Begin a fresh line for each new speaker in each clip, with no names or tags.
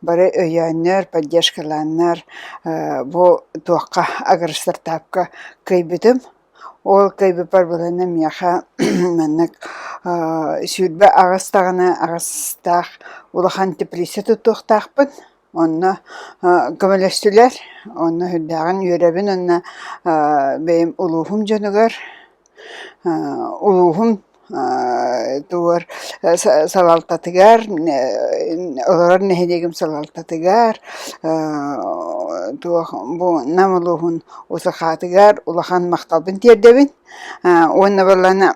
Бары өйөөннөр, поддержкалааннар бу туохха агростартаапка кыайбытым. Ол кыайбыппар былыргы миэхэ маннык сүүрбэ аҕыс даҕаны аҕыстаах улахан теплица туттуохтаахпын. Онно көмөлөстүлэр, онно сүрдээҕин үөрэбин уонна бэйэм улууһум дьонугар, улууһум тугугар салалтатыгар, олорор нэһилиэгим салалтатыгар, Нам улууһун Усахаатыгар улахан махталбын тиэрдэбин. Уонна буоллаҕына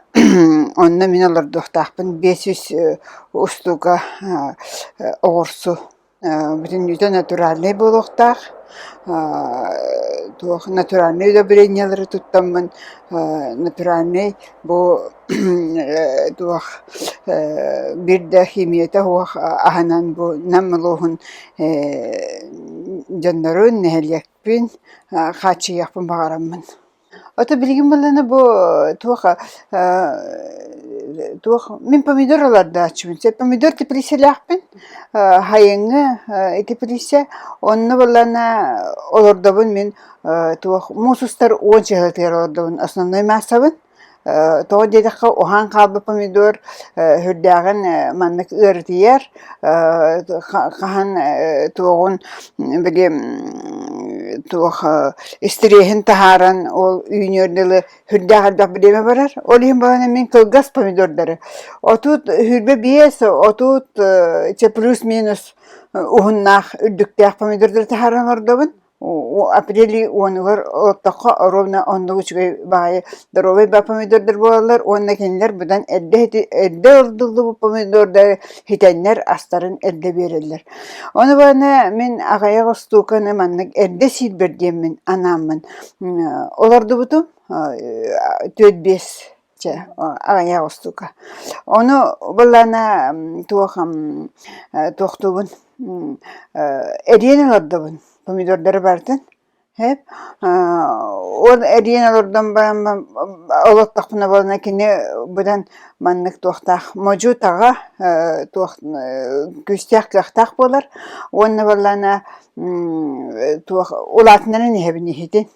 онно мин олордуохтаахпын биэс сүүс устуука оҕурсу бүтүннүүтэ натуральнай буолуохтаах. Туох натуральнай удобрениелары туттаммын натуральнай бу туох биир да химията суох аһынан бу Нам улууһун дьоннорун, нэһилиэкпин хааччыйыахпын баҕараммын. Ото билигин буоллаҕына бу туоха туох мин помидор олордооччубун сөп помидор тэпилииссэлээхпин хайыҥҥы тэпилииссэ онно буоллаҕына олордобун мин туох муус устар уон чаһытыгар олордобун основной маассабын Тоҕо диэтэххэ уһаан хаалбыт помидор сүрдээҕин маннык ыарытыйар хаһан туоҕун били туох истириэһин таһааран ол үүнүөр дылы сүрдээх элбэх бириэмэ барар. Ол иһин даҕаны мин кылгас помидордары отут сүүрбэ биэс отут чи плюс-минус уһуннаах үрдүктээх помидордары таһааран олордобун. апрель уонугар олоттоххо оруобуна оннук үчүгэй баайы доруобай ба помидордар буолаллар уонна кинилэр быдан эрдэ эрдэ ылдыллыбыт помидордары итэннэр астарын эрдэ биэрэллэр ону баана мин аҕайах устууканы маннык эрдэ сиирбэр диэммин анааммын олордубутум түөрт биэс Чэ, аҕыйах устуука. Ону былана туох туохтуубун эриэн олордобун. Помидордары барытын эп ол эриэн олордон баран олоттохпуна буолана кини быдан маннык туохтаах модьу-таҕа туох күүстээх кыахтаах буолар уонна буоллаана туох улаатыннаран иһэбин иһитин.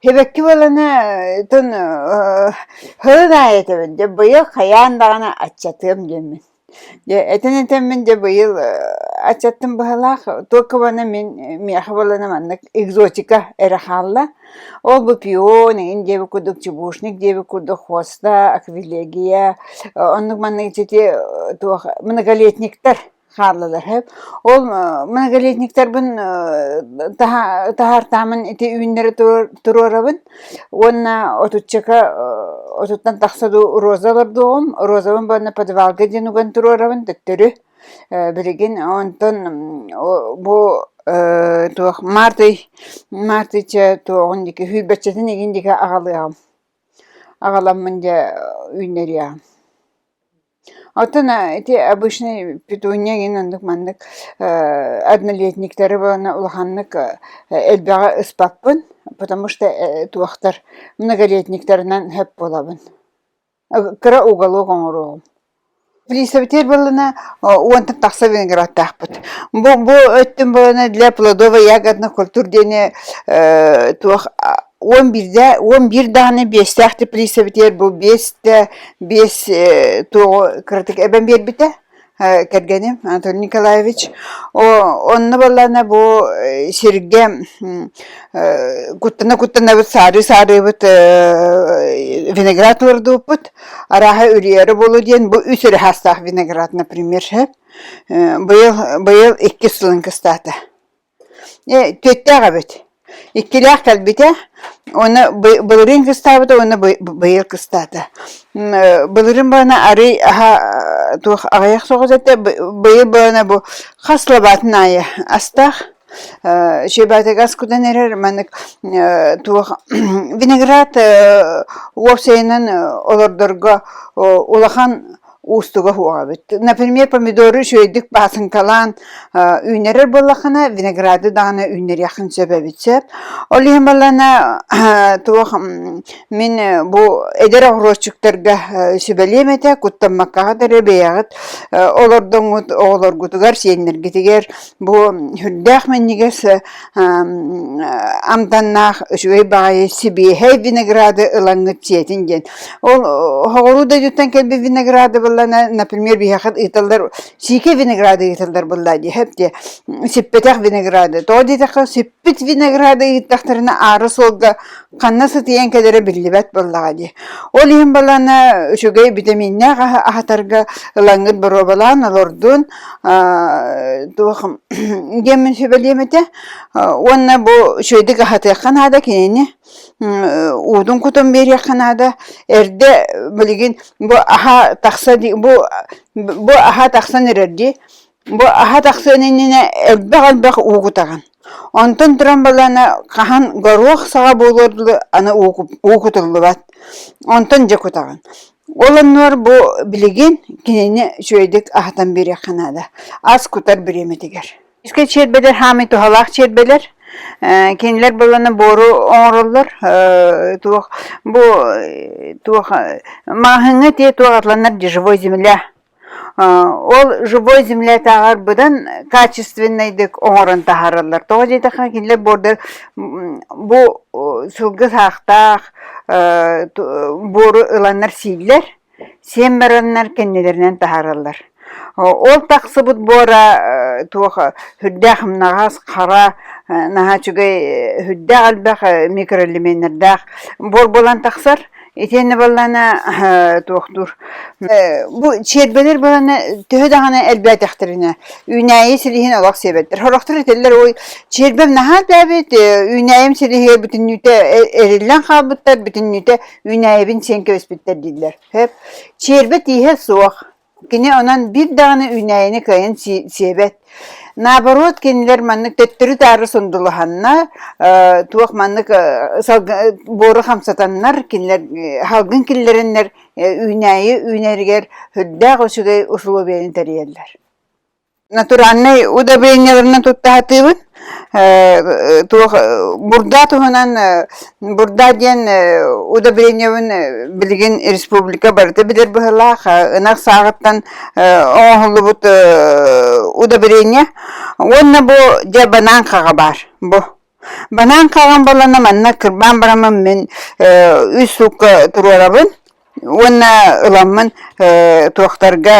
Сибэкки баланы тон һылын аайы этэбин дьэ быйыл хайаан даҕаны аччатыам диэммин дьэ этэн-этэммин дьэ быйыл аччаттым быһалаах туока бана мин миэхэ баланы маннык экзотика эрэ хаалла ол бу пион игин диэбит курдук чебушник диэбит курдук хвоста аквилегия оннук маннык ити туох многолетниктар хааллылаһыат. Ол многолетниктарбын таһаартаамын ити үүннэри туруорабын уонна отуччака отуттан тахса дуу роза олордуоҕум. Розабын уонна подвалга диэн уган туруорабын төттөрү. Билигин онтон бу туох март ый мартыча туоҕун диэки hüüрбэччэтин игин диэки аҕалыаҕым. Аҕаламмын дьэ үүннэриэҕим. Оттон ити обычнай петунья эҥин оннук маннык однолетниктары уонна улаханнык элбэҕи ыспаппын потому что туохтар многолетниктарынан сөп буолабын кыра уголок оҥоруоҕум плисабитиэр буоллана уонтан тахса виноградтаахпыт бу бу өттүн буоллана для плодовой ягодных культур диэни туох уон биирдэ уон биир даҕаны биэстээх да приставитиэр бу биэс да биэс э, туоҕу кыратык эбэн биэрбитэ э, кэргэним Антон Николаевич онно баллана бу э, сиргэ куттана-куттанабыт саарыы-саарыыбыт виноград олордубуппут арааһа үрүйэрэ болу диэн бу үс өрө хаастаах виноград например быйыл быйыл иккис сылын кыстаата Э, түөртээх эбит. Иккилээх кэлбитэ уонна бы- былырыын кыстаабыта уонна бы- быйыл кыстаата. М, э, Былырыын баана арый аһа э, туох аҕыйах соҕус этэ, бы- быйыл баана бу хас лабаатын аайы астаах, э, щебатыгас кутан эрэр маннык э, туох виноград э, уопсайынан э, олордорго э, улахан уустуга уһуоҕабыт. Например, помидору үчүгэйдик баасыҥкалаан үүннэрэр буоллаххына, винограды даҕаны үүннэриэххин сөп эбит сөп. Ол иһин буоллана туох мин бу эдэр огурочуктарга сүбэлиэм этэ, куттаммаккаҕыт эрэ бэйэҕит олордоҥҥут оҕолоргутугар, сиэннэргитигэр Бу сүрдээх минньигэс амтаннаах үчүгэй баҕайы сибиэһэй винограды ылаҥҥыт сиэтин диэн. Ол оһоҕуруу дойдуттан кэлбит винограды буллана, например, биһиэхэ ыыталлар сиикэй винограды ыыталлар буоллаа дии, эптиэ сиппэтэх винограды. Тоҕо диэтэххэ, сип эппит винограды ыыттахтарына аары суолга ханна сытыйан кэлэрэ биллибэт буоллаҕа дии. Ол иһин балана үчүгэй битэмииннээх аһатарга ылаҥҥыт боруобалаан олордун туох геммин сүбэлиэм этэ уонна бу үчүгэйдик аһатыахха наада кинини уутун кутун биэриэххэ наада эрдэ билигин бу аһа тахса бу аһа тахсан эрэр дии Бу аһа тахсыан иннинэ элбэх-элбэх уу кутаҕын. Онтон туран балаана хаһан горуох саҕа буолуор дылы аны уу кут- уу кутуллубат. Онтон дьэ кутаҕын. Ол оннугар бу билигин кинини үчүгэйдик аһатан биэриэххэ наада. Ас кутар бириэмэтигэр. Кискэ чиэрбэлэр хаамый туһалаах чиэрбэлэр. Э, кинилэр балана буору оҥороллор. Э, туох бу э, туох э, маһыҥҥа тиэ туох атланар дешевой земля Ол живой землятааҕар быдан качественнайдык оҥорон таһаараллар. Тоҕо диэтэххэ, кинилэр буордар бу сылгы саахтаах буору ыланнар сииллэр, сиэн бараннар кэннилэринэн таһаараллар. Ол тахсыбыт буора туох үрдээх ымнаҕас, хара, наһаа үчүгэй үрдээх элбэх микроэлементэрдээх буор буолан тахсар. Итиэннэ баллана туохтуур бу сиэрбэлэр баллана төһө даҕаны элбээтэхтэринэ үүнээйи силиһин олох сиэбэттэр. Сорохтор этэллэр ой сиэрбэм наһаа тээбит үүнээйим силиһигэр бүтүннүүтэ эриллэн хаалбыттар бүтүннүүтэ үүнээйибин сиэн кэбиспиттэр дииллэр. Сиэрбэ тииһэ суох. Кини онон биир даҕаны үүнээйини кыайан сиэбэт. Наоборот, кинилэр маннык төттөрү-таары сундулуһаннар, туох маннык буору хамсатаннар, кинилэр салгын киллэрэннэр үүнээйи үүнэригэр үрдээх үчүгэй усулуобуйаны тэрийэллэр натуральнай удобрениеларынан туттаһатыыбын. Э, туох бурда туһунан э, бурда диэн э, удобрениебын билигин республика барыта билэр быһылаах ынах сааҕыттан оҥоһуллубут удобрение уонна бу дьэ банаанкаҕа баар бу Банаан хаалан буоллаҕына манна кырбаан бараммын мин үс суукка туруорабын уонна ыламмын туохтарга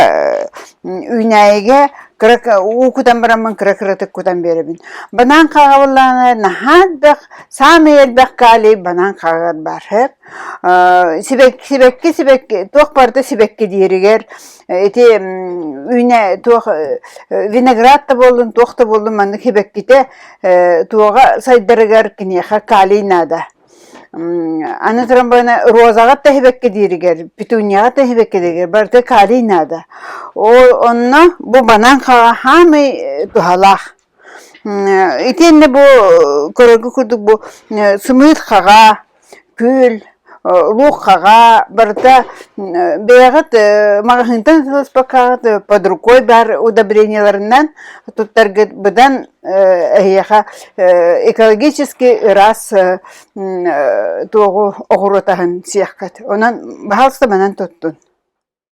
үүнээйигэ кыра уу кутан бараммын кыра кыратык кутан биэрэбин. Банаан хаалабыллаҕына наһаа элбэх, саамай элбэх калий банаан хааҕар баар сибэкки сибэкки туох барыта сибэкки диэригэр ити үйне туох виноград да буоллун туох да буоллун маннык хибэккитэ туоҕа сайдарыгар киниэхэ калий наада аны туран бана розаҕа тэһибэккэ дииригэр петунияҕа тэһибэккэ дииригэр барыта калий наада ол онно бу банан хаамый туһалаах Итиэннэ бу көрөргө курдук бу сымыыт хаҕа, күөл, лук хаҕа барыта бэйэҕит маҕаһыынтан ытыласпаккаҕыт под рукой баар удобрениеларынан туттаргыт быдан эһиэхэ экологически ыраас туоҕу оҕуруот аһын сиэххит онон баһаалыста манан туттун